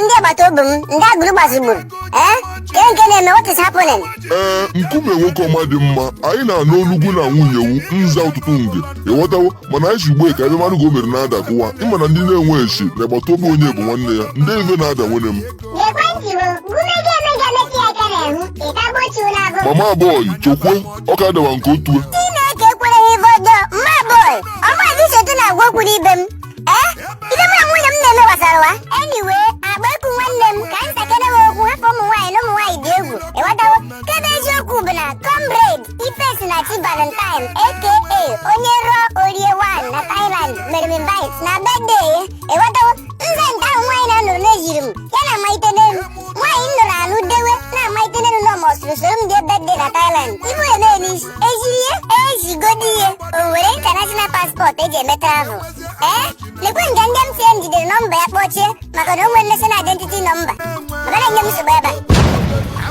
ndị agbata obi m ndị agbụrụ gbazigburu ee ke nke na-eme what is happening ee nkume nwoke ọma dị mma anyị na-anụ olu gwu na nwunye wu nza ụtụtụ nge ịghọtawo mana anyị si ugbo ka ebe mmadụ ka o mere na-ada kụwa ịma na ndị na-enwe esi na agbata obi onye bụ nwanne ya nde ive na-ada nwanne m Lekwa njibo, gume ga-eme ga metụ ya aka n'ahụ, ịta gbochi ụlọ abụọ. mama boy chokwe ọ ka dawa nke otue Chineke ekwere ha ife ọjọọ, mama boy, ọ maazị Sotu na-agwa okwu n'ibe m. Ee, ife mụ na nwunye m na-eme gbasara wa. Anyway, agba eku nwanne m ka m sakene wa okwu hafụ ụmụ nwaanyị na ụmụ nwaanyị dị egwu. Ịghọtawo? Ke bụ eziokwu bụ na comrade Ifesinachi Valentine aka onye rụọ o rie 1 na Thailand mere m invite na birthday ya. ịghọtawo nza nke ahụ nwaanyị na-anụrụ n'ejiri m ya na Amaite n'elu nwaanyị m nụrụ anụ dewe na Amaite n'elu na ọ must soro m jee birthday na Thailand ibu eme n'isi ejiri ya ejigodi ihe o nwere international passport eji eme travel ee lekwe nga ndị MTN jidere nọmba ya kpọchie maka na o nwere national identity nọmba ma ka na-enye m nsogbu ebe a